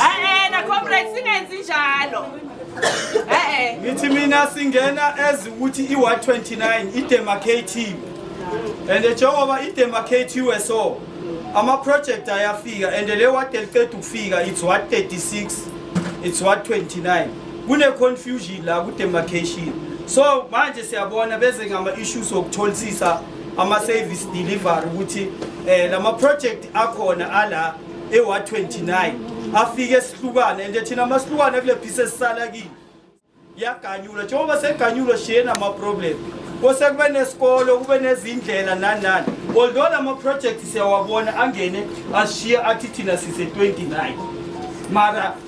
Eh na comrade singenzi njalo. Eh ngithi mina singena as ukuthi i129 idemarcative. And njengoba idemarcative so ama project ayafika and le ward eliqeda ukufika it's what 36 it's what 29 kune confusion la ku demarcation so manje siyabona beze ngama issues okutholisisa ama service delivery ukuthi eh lama project akhona ala ewa 29 afike esihlukane and thina amahlukane kule piece esisala kini yaganyula njengoba seganyulwa shiyena ama problem kose kube nesikolo kube nezindlela nani nani although lama project siyawabona angene ashiya athi thina sise 29 mara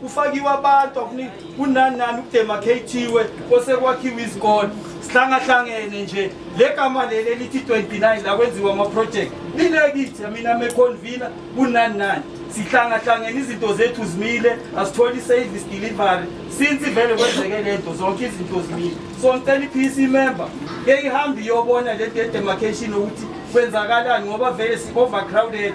kufakiwe abantu akuni kunani nani ukudemarcatiwe osekwakhiwe izikole sihlangahlangene nje le gama leli elithi 29 la kwenziwa ama-project linekithi mina meconvina kunani nani sihlangahlangene izinto zethu zimile asitholi i-service delivery since ivele kwenzeke le nto zonke izinto zimile so ngicela i-pc member ke ihambe iyobona le nto ye-demarcation ukuthi kwenzakalani ngoba vele si-overcrowded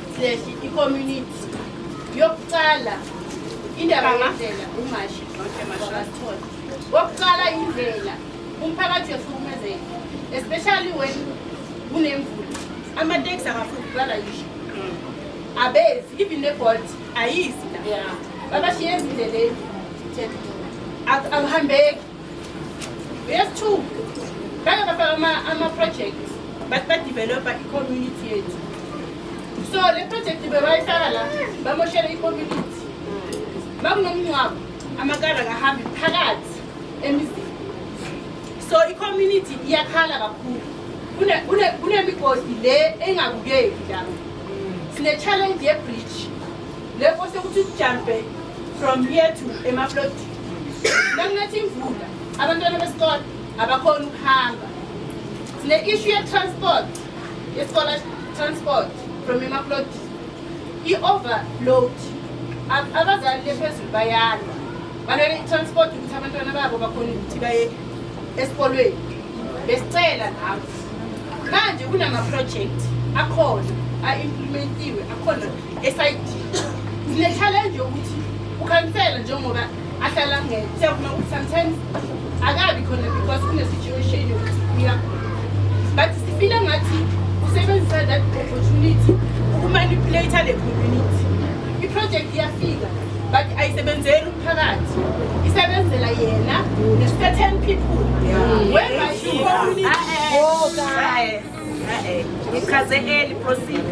Sileshi i-community yokuqala indaba yendlela umashi wabathola wokuqala indlela umphakathi uyahlukumezeka especially when kunemvula amateksi akafuni kuqala yisho abezi even nebolt ayizi la babashiye ezindleleni akuhambeki We have two. Bake bafaka ama-projects but badevelopha i-community yethu so le project bebayifaka la bamoshela i-community bakunomngcwabo amakara kahambi phakathi emizini so i-community iyakhala kakhulu kunemigodi le engabukeki la sine-challenge ye-bridge le kose ukuthi ujampe from here to emaplot Nakunetha imvula, abantwana besikole abakhona ukuhamba. Sine issue ye transport, ye scholar transport from Emaplot. I overload. Abazali lephezulu bayalwa. Balwela i transport ukuthi abantwana babo bakhona ukuthi baye esikolweni. besicela nawe manje kunamaproject akhona a-implementiwe akhona esayidiyo sinechallenge yokuthi ukhansela njengoba ahlala ngeke siyakuma ukuthi sometimes akabi khona because kune-situation yokuthi uyagula but sifile ngathi usebenzisa that opportunity ukumanipulate le community iproject iyafika but ayisebenzeli phakathi isebenzela yena the certain people whereby you ichaze eli proceed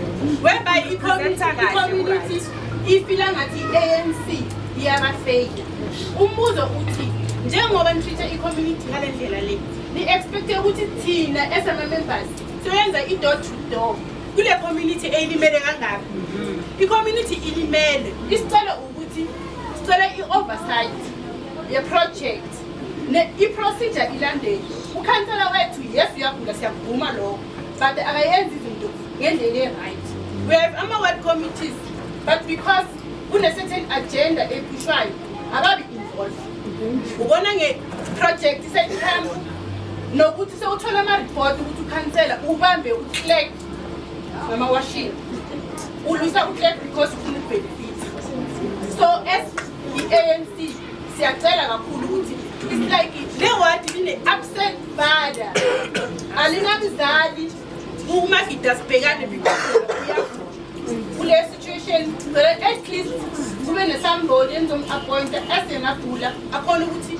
whereby i-community ifila ngathi i-anc iyabafeyika umbuzo uthi njengoba nitreat-a i-community ngale ndlela le ni-expecte ukuthi thina esama-members soyenza i-door to door kule community eyilimele kangaka i-community ilimele isicelo ukuthi sicela i-oversight yeproject i-procedure ilandele ukhansela wethu yes uyagula siyakuvuma lokho but akayenzi izinto ngendlela e-right we have ama-word committees but because kune-certain agenda ephushwayo ababi involved ubona nge-project seyihamba nokuthi sewuthola ama-report ukuthi ukhansela ubambe uclek Mama washini. Ulwisa uClerk because ufuna ubenefit. So as i-ANC siyacela kakhulu ukuthi it's like le ward line absent father. Alinamzali uma gida sibhekane because kule situation ngicela at least kube nesamboni enizom-appointa as engagula akhona ukuthi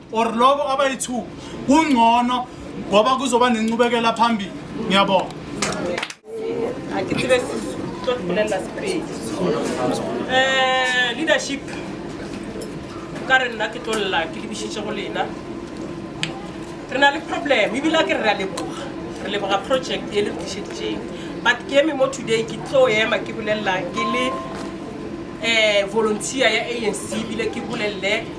or lobo abayi-two kungcono ngoba kuzoba nenqubekela phambili ngiyabonga eh, leadership ka re nna ke tlolela ke lebisitse go lena re na le problem ebile a ke re ra leboga re leboga project e le tlišeditseng but ke eme mo today ke tlo ema ke bolelela ke le um volunteer ya anc ebile ke bolelele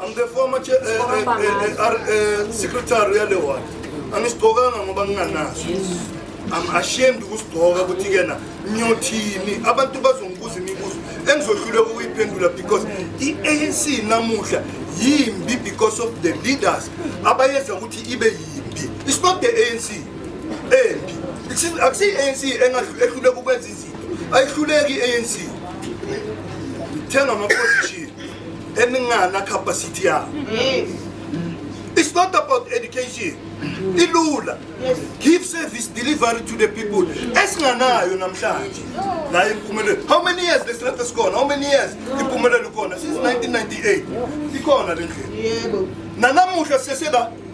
I'm the former chair, uh, uh, uh, uh, uh, secretary yale ward. Angisigqokanga ngoba nginganaso. I'm ashamed ukusigqoka ukuthi kena ngiyothini abantu bazongibuza imibuzo engizohluleka ukuyiphendula because i-ANC namuhla yimbi because of the leaders abayenza ukuthi ibe yimbi. It's not the ANC embi. Akusiyi-ANC engahluleka ukwenza izinto. Ayihluleki i-ANC. Thenga ama-position. eningana capacity yabo yes It's not about education. Ilula. Yes. Give service delivery to the people. Esinganayo namhlanje. La impumelelo. How many years the strength is gone? How many years impumelelo khona? Since 1998. Ikhona le ndlela. Yebo. Nanamuhla sesela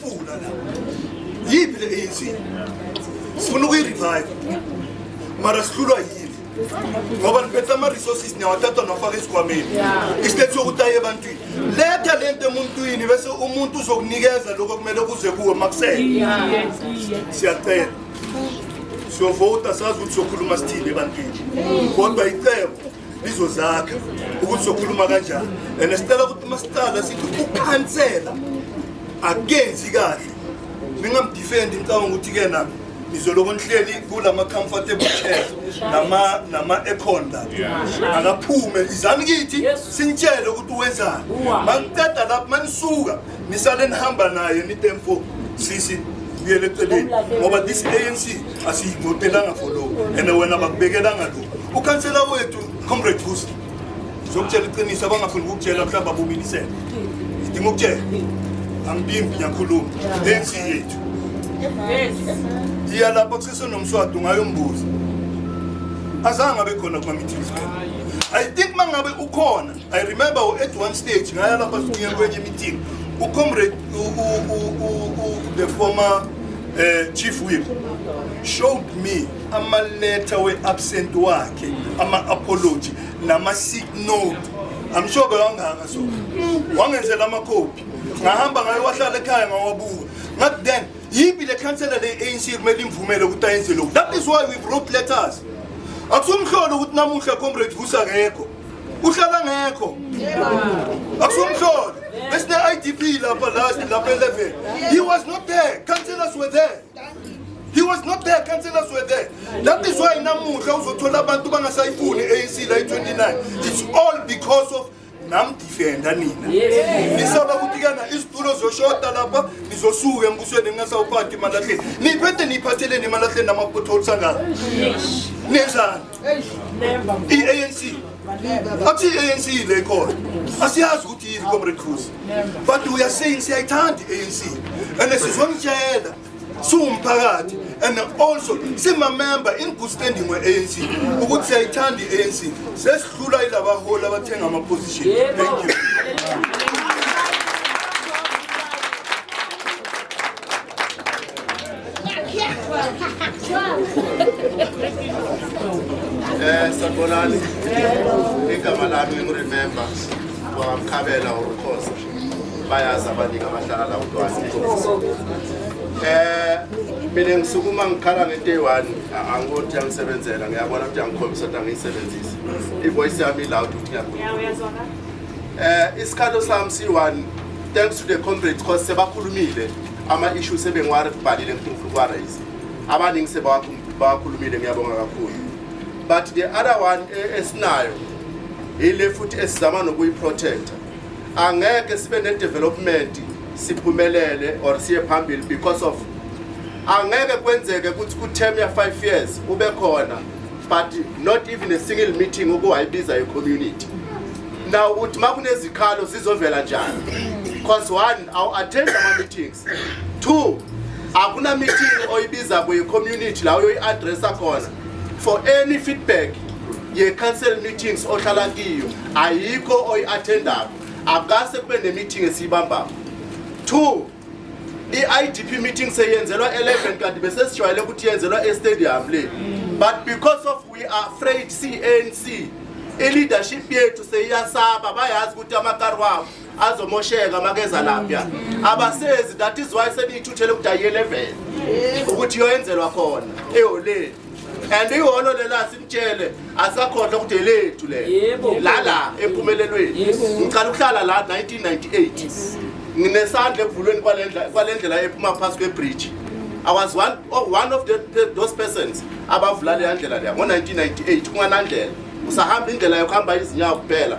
Funa la. Yiphi le ANC? Sifuna ukuyi-revive. Mara sihlulwa yini? ngoba niphethe ama-resources niyawathatha nafaka esikhwameni istate sokutaye ebantwini letha le nto emuntwini bese umuntu uzokunikeza lokho kumele kuze kuwe makusele siyacela siyovota sazi ukuthi sokhuluma sithini ebantwini kodwa icebo lizozakha ukuthi sokhuluma kanjani and sicela ukuthi uma siqala sithi ukukhansela akenzi kahle ningamdifendi ngicabanga ukuthi-ke na nizoloko nihleli kula ma-comfortable chairs nama-econ la akaphume izani kithi sinitshele ukuthi wenzani mangiqeda lapho manisuka nisale nihamba naye nite mfo sisi buyele eceleni ngoba this anc asiyivotelanga for lo and wena bakubekelanga lo ukhansela wethu comrade bus zokutshela iqiniso abangafuni ukukutshela mhlawumbe abumilisele idinga ukutshela angibimbi ngiyakhuluma anc yethu iya lapha kusesenomswadi ungayombuza azange abe khona kuma-meetings i think uma ngabe ukhona I remember at one stage ngaya lapha sibuye kwenye meeting u comrade u, u, u, u, u, the former uh, chief whip showed me ama letter we absent wakhe ama apology nama sick note I'm sure bewangaka so wangenzela ama copy ngahamba ngayo wahlala ekhaya ngawabuka ngathi then yipi le councillor le ANC kumele imvumele ukuthi ayenze lokho that is why we wrote letters akusumhlolo ukuthi namuhla comrade vusa ngekho uhlala ngekho akusomhlolo besine-idp lapha last lapha eleven he was not there councillors were there he was not there councillors were there that is why namuhla uzothola abantu bangasayifuni i-anc la i-29 it's all because of namdifenda nina nisaba ukuthi kana izitulo zoshoda lapha nizosuka embusweni ningasawuphathi emalahleni niphethe niyiphatheleni emalahleni namapotholes angaka nenzani i-anc athi i-anc le nkolo asiyazi ukuthi yini comrade cruz but we are saying siyayithanda i-anc and sizomtshela siwumphakathi and also simamemba in good standing we-anc ukuthi siyayithanda i-anc sesihlula ilabaholi abathenga ama-position thank you Eh sabonani. Igama lami ngiremember kwamkhabela uRukhoza. Bayazi abaningi abahlala la uDwasi. Eh mina ngisukuma ngikhala ngento eyi-one angikoti yangisebenzela ngiyabona ukuthi yangikhombisa ukuthi angiyisebenzisi i-voice yami iloud ukuthi ngiyakho um isikhathi sami siyi-one thanks to the comrades cause sebakhulumile ama-issues sebengiwabhalile ngifuna ufuna ukuwarayise abaningi sebawakhulumile ngiyabonga kakhulu but the other one e, esinayo yile futhi esizama nokuyiprotecta angeke sibe ne-development siphumelele or siye phambili because of angeke kwenzeke ukuthi ku-term ya-five years ube khona but not even a single meeting ukuwayibiza i-community now ukuthi uma kunezikhalo zizovela njani because one awu attend ama meetings two akuna meeting oyibiza kwe community la uyoyi addressa khona for any feedback ye council meetings ohlala kiyo ayikho oyi attendayo akase kube ne meeting esiyibambayo two i-idp meeting seyenzelwa 11 kanti besesijwayele ukuthi yenzelwa estadium le but because of we are afraid cnc i-leadership yethu seyiyasaba bayazi ukuthi amakari wabo azomosheka makeza lapha abasezi that is why seniyithuthele ukuthi ayi 11 ukuthi yoyenzelwa khona eholeni and iholo lela simtshele asakhohlwa ukuthi elethu le lala empumelelweni ngicala ukuhlala la 1998 nginesandla ekuvulweni kwalendlela ephuma phasi kwebridge I was one, oh, one of the, the, those persons abavula leya ndlela leya ngo-1998 kunganandlela usahamba indlela yokuhamba izinyawo kuphela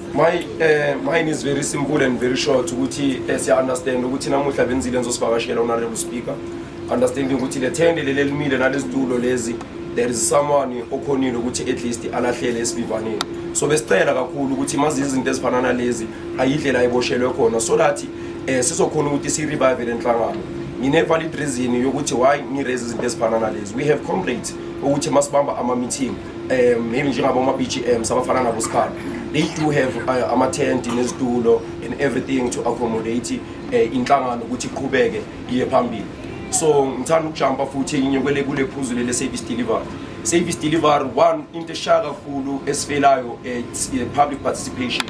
My uh, mine is very simple and very short ukuthi eh, siya understand ukuthi namuhla benzile ngizosivakashela honorable speaker understanding ukuthi le tende leli elimile nalezitulo lezi there is someone okhonile ukuthi at least alahlele esivivaneni so besicela kakhulu ukuthi mazi izinto ezifana nalezi ayidlela ayiboshelwe khona so that eh sizokhona ukuthi si revive le nhlangano ngine valid reason yokuthi why ni raise izinto ezifana nalezi we have comrades ukuthi masibamba ama meeting um maybe njengaboma-bgm sabafana nabo sikhala they do have uh, amathenti nezitulo and everything to accommodate uh, inhlangano ukuthi iqhubeke iye phambili so ngithanda ukujampa futhi inye kwele kule phuzu lele service delivery service delivery one into eshaya kakhulu esifelayo it's eh, public participation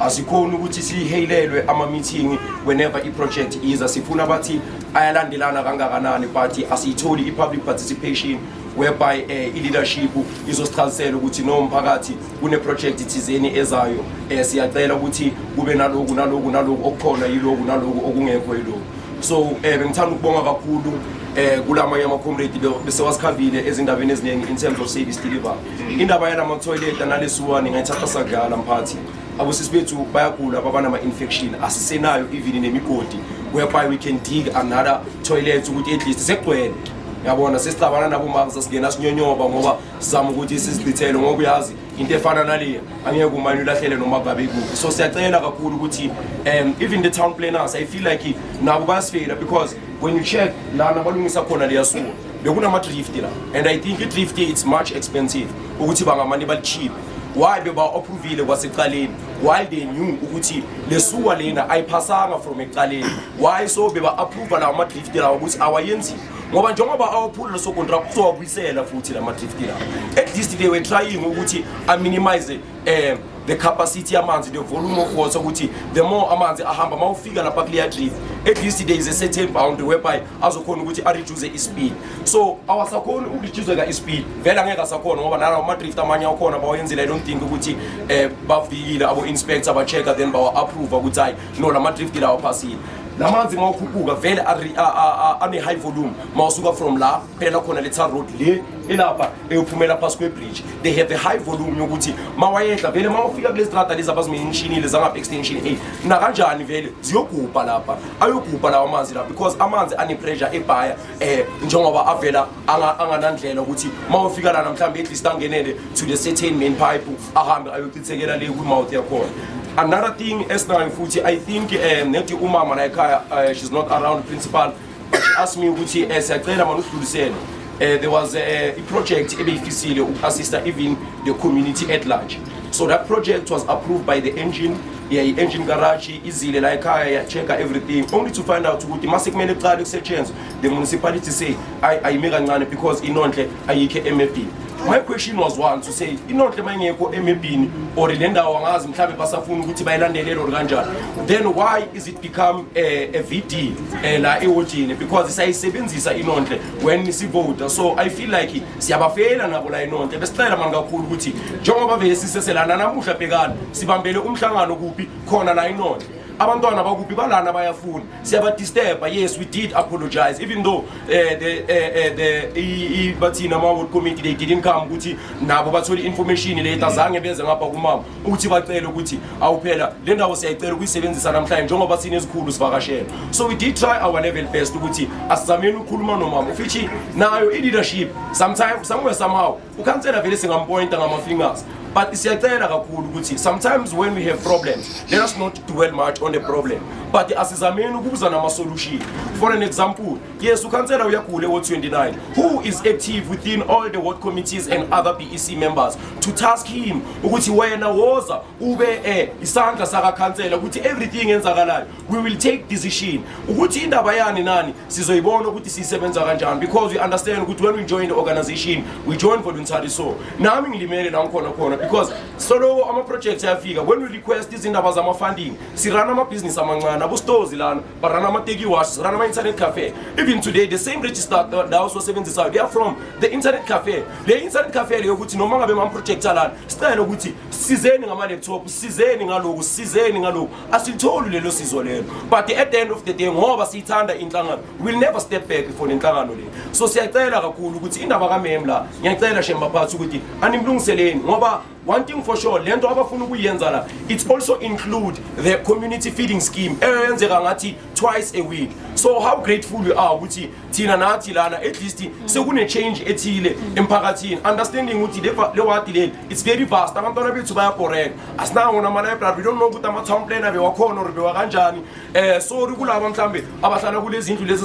asikhona ukuthi sihelelwe ama-meeting whenever i-project iza sifuna bathi ayalandelana kangakanani but asiyitholi i-public participation whereby eh, i-leadership izosichazisela ukuthi no mphakathi kuneprojekthi thizeni ezayo um siyacela ukuthi kube naloku naloku naloku okukhona yiloku naloku okungekho yiloku so um bengithanda ukubonga kakhulu eh kula manye ama-comrade besewasikhambile ezindabeni eziningi in terms of service deliver indaba yalama-toilet analesiwani ngayithatha sadlala mphathi abosisi bethu bayagula babanama-infection asisenayo even nemigodi whereby we can dig another toilet ukuthi at least sekugcwele yabona sesicabana nabo mama sasingena sinyonyoba ngoba sizama ukuthi sizidithele ngoba uyazi into efana naleya angeke umane ulahlele noma babe kuphi so siyacela kakhulu ukuthi um even the town planners i feel like nabo bayasifela because when you check lana balungisa khona liyasuka bekunama-drift la and i think i-drift it's much expensive ukuthi bangamane balichipe why beba-ophuvile kwaseqaleni while they knew ukuthi lesuwa lena ayiphasanga from eqaleni why so beba approve lawo ma drift lawo ukuthi awayenzi ngoba njengoba awaphula leso contract uzowabuyisela futhi lama drift lawo at least they were trying ukuthi a minimize eh the capacity amanzi the volume of water ukuthi the more amanzi ahamba mawufika lapha clear drift at least there is a certain boundary whereby azokhona ukuthi a reduce i speed so awasakhona uku reduce ka i speed vela ngeke asakhona ngoba nalawo ma drift amanye akhona bawayenzile i don't think ukuthi eh bafikile abo inspector ba check then bawa approve ukuthi no lama drift lawo phasile lamanzi uma ukhuphuka vele ane-high volume ma usuka from la phela khona le tar road le elapha eyophumela phasi kwebridge they have a high volume yokuthi ma wayehla vele ma ufika kule strada lezi abazimeyinshinile zangapha extension a nakanjani vele ziyogubha lapha ayogubha lawo amanzi lapha because amanzi ane-pressure ebhaya um eh, njengoba avela anganandlela ukuthi ma ufika lana mhlawumbe at least angenele to the certain main pipe ahambe ayochithekela le kwi-mouth yakhona another thing esinayo futhi i think um nethi umama la ekhaya uh, she's not around principal but she asked me ukuthi um siyacela mani usidlulisele um there was eh, i-project uh, ebeyifisile uku-assista even the community at large so that project was approved by the engine yeah, i-engine garage izile la ekhaya ya-checka everything only to find out ukuthi uma sekumele kuqale kusetshenzwe The municipality say I I make kancane because inonhle ayikho emebhini. My question was one to say inonhle mayingekho emebhini or le ndawo angazi mhlawumbe basafuna ukuthi bayilandelele or kanjani. Then why is it become a, a VD eh, la ewotini because isayisebenzisa inonhle when sivota. So I feel like siyabafela nabo la inonhle. Besicela manje kakhulu ukuthi njengoba vele siseselana namuhla bhekani sibambele umhlangano kuphi khona la inonhle. Abantwana bakuphi balana bayafuna. siyabadisturba yes we did apologize even though uh, the, uh, uh, the bathini ama-ward committee they didn't come ukuthi nabo bathole i-information le azange benze ngapha kumama ukuthi bacele ukuthi awuphela le ndawo siyayicela ukuyisebenzisa namhlanje njengoba sinezikhulu sivakashela so we did try our level best ukuthi asizameni ukukhuluma nomama ufithi nayo i-leadership sometime somewhere somehow ukhansela vele singampointa ngama-fingers but siyacela kakhulu ukuthi sometimes when we have problems let us not dwell much on the problem but asizameni ukubuza nama-solution for an example yes ukhansela uyagula ewo 29 who is active within all the ward committees and other bec members to task him ukuthi wena woza ube um isandla sakakhansela ukuthi everything enzakalayo we will take decision ukuthi indaba yani nani sizoyibona ukuthi siyisebenza kanjani because we understand ukuthi when we join the organization we join voluntary so nami ngilimele la ngikhona khona because soloko ama-projects ayafika when we request izindaba zama-funding sirana amabhizinisi amancane abostozi lana barana ama-teki wash sirana ama-internet cafe even today the same register ndawo siwasebenzisayo they are from the internet cafe le internet cafe leyo ukuthi noma ngabe mama-projecta lana sicele ukuthi sizeni ngama-laptop sizeni ngaloku sizeni ngaloku asilitholi lelo sizo lelo but at the end of the day ngoba siyithanda inhlangano will never step back for le nhlangano le so siyacela kakhulu ukuthi indaba kamem la ngiyacela shemba phathi ukuthi animlungiseleni ngoba one thing for sure le nto abafuna ukuyenza la it's also include the community feeding scheme eyenzeka ngathi twice a week so how grateful you are ukuthi thina nathi lana at least sekune-change ethile emphakathini understanding ukuthi le wadi leli it's very vast abantwana bethu bayabhoreka asinawona ama-library we don't know ukuthi ama-town planner bewakhona or bewakanjani um sorry kulaba mhlawumbe abahlala kulezi ndlu lezi